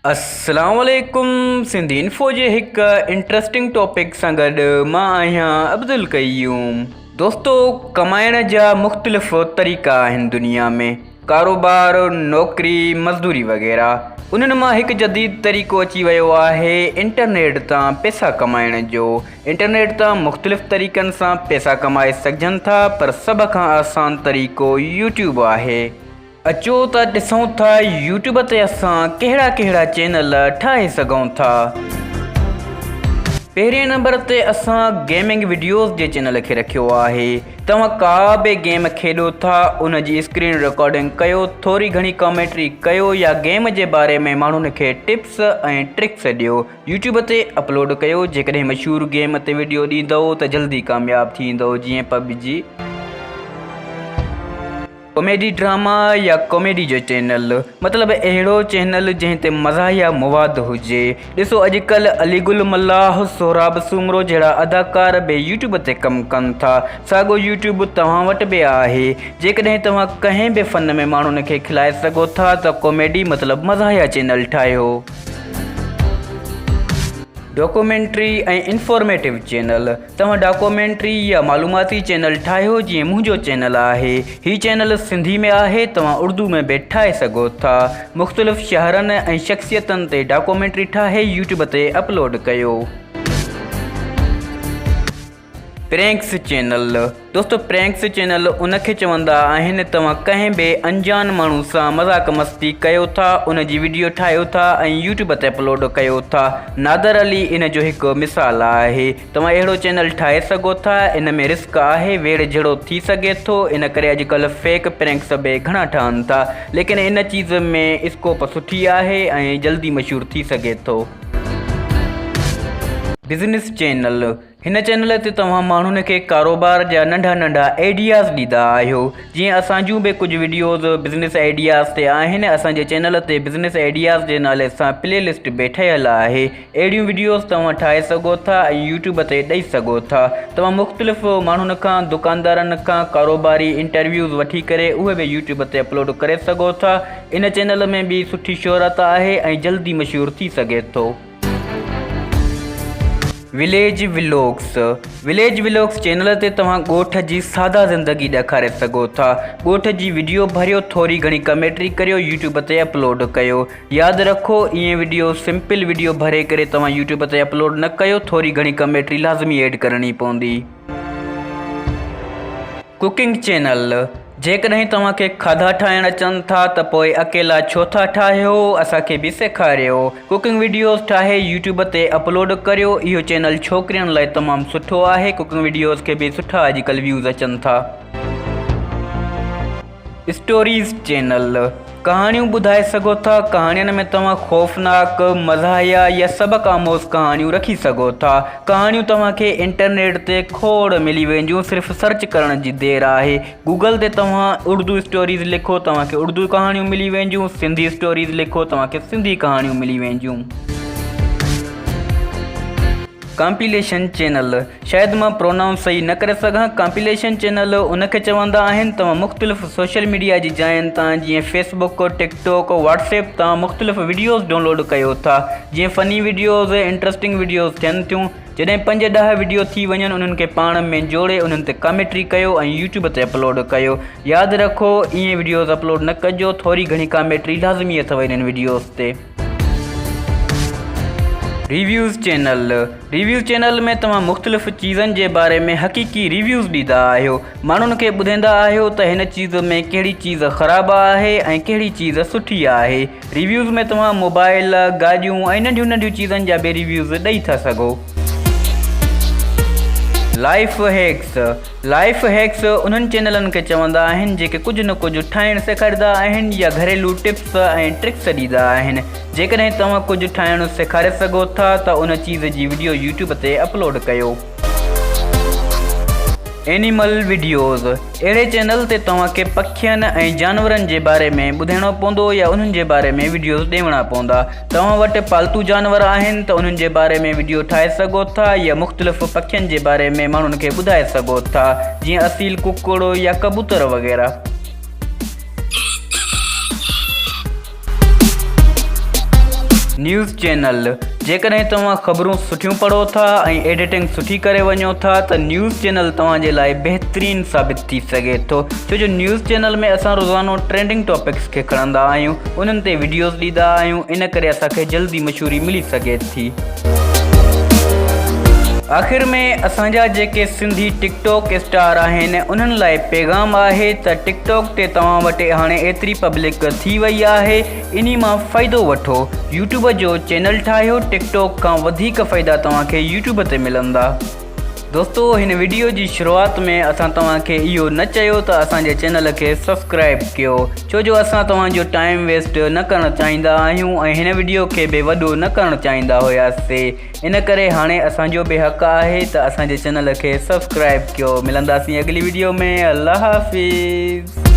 السلام عليڪم سنڌي انفو جي هڪ انٽرسٽنگ ٽاپڪ سان گڏ مان آهيان عبدالقيوم دوستو ڪمائڻ جا مختلف طريقا آهن دنيا ۾ ڪاروبار نوڪري مزدوري وغيره انهن مان هڪ جديد طريقو اچي ويو آهي انٽرنيٽ تان پئسا ڪمائڻ جو انٽرنيٽ تان مختلف طريقن سان پئسا ڪمائي سگهجن ٿا پر سڀ کان آسان طريقو يوٽيوب آهي اچو ته ڏسون ٿا يوٽيوب تي اسان ڪهڙا ڪهڙا چينل ٺاهي سگهون ٿا پهرين نمبر تي اسان گيمنگ وڊيوز جي چينل کي رکيو آهي توهان ڪا به گيم کيڏو ٿا ان جي اسڪرين رڪارڊنگ ڪيو ٿوري گهڻي ڪامينٽري ڪيو يا گيم جي باري ۾ ماڻهن کي ٽپس ۽ ٽرڪس ڏيو يوٽيوب تي اپلوڊ ڪيو جيڪڏهن مشهور گيم تي وڊيو ڏيندؤ ته جلدي ڪامياب ٿيندؤ جيئن پب جي ڪاميڊي ڊراما يا ڪاميڊي جو چينل مطلب اهڙو چينل جنهن تي مزاحيه مواد هجي ڏسو اڄ ڪلهه علي گل ملاح سهراب سومرو جهڙا اداڪار به يوٽيوب تي ڪم ڪن ٿا ساڳو يوٽيوب توهان وٽ به آهي جيڪڏهن توهان ڪنهن به فن ۾ ماڻهن کي کلائي سگهو ٿا ته ڪاميڊي مطلب مزاحيه چينل ٺاهيو ڊاڪومينٽري ۽ انفارميٽو چينل توهان ڊاڪومينٽري يا معلوماتي چينل ٺاهيو جيئن منهنجو چينل آهي هي چينل سنڌي ۾ آهي توهان اردو ۾ به ٺاهي سگهو ٿا مختلف شهرن ۽ شخصيتن تي ڊاڪومينٽري ٺاهي يوٽيوب تي اپلوڊ ڪيو. پرينڪس چينل دوستو پرينڪس چينل ان کي چوندا آهن توهان ڪنهن به انجان ماڻهو سان مذاق مستي ڪيو ٿا ان جي وڊيو ٺاهيو ٿا ۽ يوٽيوب تي اپلوڊ ڪيو ٿا نادر علي ان جو هڪ مثال آهي توهان اهڙو چينل ٺاهي سگهو ٿا ان ۾ رسڪ آهي ويڙهه جھڙو ٿي سگهي ٿو ان ڪري اڄڪلهه فيڪ پرينڪس به گھڻا ٺهن ٿا ليڪن ان چيز ۾ اسڪوپ سٺي آهي ۽ جلدي مشھور ٿي سگهي ٿو. بزنس چينل هن چينل تي توهان ماڻهن کي ڪاروبار جا ننڍا ننڍا ايڊياز ڏيندا آهيو جيئن اسان جون به ڪجهه وڊيوز بزنس ايڊياز تي آهن اسان جي چينل تي بزنس ايڊياز جي نالي سان پلي لسٽ به ٺهيل آهي اهڙيون وڊيوز توهان ٺاهي سگهو ٿا ۽ يوٽيوب تي ڏئي سگهو ٿا توهان مختلف ماڻهن کان دڪاندارن کان ڪاروباري انٽرويوز وٺي ڪري اهي به يوٽيوب تي اپلوڊ ڪري سگهو ٿا ان چينل ۾ به سٺي شهرت آهي ۽ جلدي مشهور ٿي سگهي ٿو village vlogs, Village Vlogs، channel تي توهان ڳوٺ جي سادا زندگي ڏيکاري سگهو ٿا. ڳوٺ جي وڊيو ڀريو ٿوري گهڻي ڪميٽري ڪريو يوٽيوب تي اپلوڊ ڪيو. ياد رکو ائين وڊيو سمپل وڊيو ڀري ڪري توهان يوٽيوب تي اپلوڊ نه ڪيو ٿوري گهڻي ڪميٽري لازمي ايڊ ڪرڻي پوندي. ڪوڪنگ چينل جيڪڏهن توهان کي کاڌا ٺاهڻ اچن ٿا ته پوء اڪيلا ڇو ٿا ٺاهيو اسان کي به سيکاريو ڪوڪنگ وڊيوز ٺاهي يوٽيوب تي اپلوڊ ڪريو اهو چينل ڇوڪرين لاء تمام سٺو آهي ڪوڪنگ وڊيوز کي به سٺا اڄڪلهه ويوز اچن ٿا. اسٽوريز چينل، ڪهاڻيون ٻڌائي سگهو ٿا، ڪهاڻين ۾ توهان خوفناڪ، مزاحيه يا سبق آموز ڪهاڻيون رکي سگهو ٿا. ڪهاڻيون توهان کي انٽرنيٽ تي کوڙ ملي وينديون صرف سرچ ڪرڻ جي دير آهي. گوگل تي توهان اردو اسٽوريز لکو توهان کي اردو ڪهاڻيون ملي وينديون، سنڌي اسٽوريز لکو توهان کي سنڌي ڪهاڻيون ملي وينديون. ڪامپيليشن چينل، شايد مان پرونائونس صحيح نه ڪري سگهان، ڪامپيليشن چينل ان کي چوندا آهن، توهان مختلف سوشل ميڊيا جي جاين تان جيئن فيس بڪ، ٽڪ ٽوڪ، واٽس ايپ تان مختلف وڊيوز ڊونلوڊ ڪيو ٿا، جيئن فني وڊيوز، انٽرسٽنگ وڊيوز ٿين ٿيون، جڏهن پنج ڏهه وڊيو ٿي وڃن انهن کي پاڻ ۾ جوڙي انهن تي ڪاميٽري ڪيو ۽ يوٽيوب تي اپلوڊ ڪيو، ياد رکو ائين وڊيوز اپلوڊ نه ڪجو، ٿوري گهڻي ڪاميٽري لازمي اٿو انهن وڊيوز تي. ريويوز چينل، ريويوز چينل ۾ توهان مختلف چيزن جي باري ۾ حقيقي ريويوز ڏيندا آهيو. ماڻهن کي ٻڌيندا آهيو ته هن چيز ۾ ڪهڙي چيز خراب آهي ۽ ڪهڙي چيز سٺي آهي. ريويوز ۾ توهان موبائل، گاڏيون ۽ ننڍيون ننڍيون چيزن جا به ريويوز ڏئي ٿا سگهو. لائيف هيڪس، لائيف هيڪس انهن چينلن کي چوندا آهن جيڪي ڪجهه نه ڪجهه ٺاهڻ سيکاريندا آهن يا گهريلو ٽپس ۽ ٽرڪس ڏيندا آهن جيڪڏهن توهان ڪجهه ٺاهڻ سيکاري سگهو ٿا ته ان چيز جي وڊيو يوٽيوب تي اپلوڊ ڪيو. اينيمل وڊيوز اهڙي چينل تي توهان کي پکين ۽ جانورن جي باري ۾ ٻڌائڻو پوندو يا انهن جي باري ۾ وڊيوز ڏيوڻا پوندا توهان وٽ پالتو جانور آهن ته انهن جي باري ۾ وڊيو ٺاهي سگهو ٿا يا مختلف پکين جي باري ۾ ماڻهن کي ٻڌائي سگهو ٿا جيئن اصيل ڪڪڙ يا ڪبوتر وغيره. نيوز چينل، جيڪڏهن توهان خبرون سٺيون پڙهو ٿا ۽ ايڊيٽنگ سٺي ڪري وڃو ٿا ته نيوز چينل توهان جي لاء بهترين ثابت ٿي سگهي ٿو ڇو جو نيوز چينل ۾ اسان روزانو ٽرينڊنگ ٽاپڪس کي کڻندا آهيون انهن تي وڊيوز ڏيندا آهيون ان ڪري اسان کي جلدي مشهوري ملي سگهي ٿي آخر ۾ اسان جا جيڪي سنڌي ٽڪ ٽاڪ اسٽار آهن انهن لاء پيغام آهي ته ٽڪ ٽاڪ تي توهان وٽ هاڻي ايتري پبلڪ ٿي وئي آهي انهي مان فائدو وٺو يوٽيوب جو چينل ٺاهيو ٽڪ ٽاڪ کان وڌيڪ فائدا توهان کي يوٽيوب تي ملندا دوستو هن وڊيو جي شروعات ۾ اسان توهان کي اهو نه چيو ته اسان جي چينل کي سبسڪرائب ڪيو ڇو جو اسان توهان جو ٽائيم ويسٽ نه ڪرڻ چاهيندا آهيون ۽ هن وڊيو کي به وڏو نه ڪرڻ چاهيندا هياسي ان ڪري هاڻي اسان جو به حق آهي ته اسان جي چينل کي سبسڪرائب ڪيو ملنداسين اڳلي وڊيو ۾ الله حافظ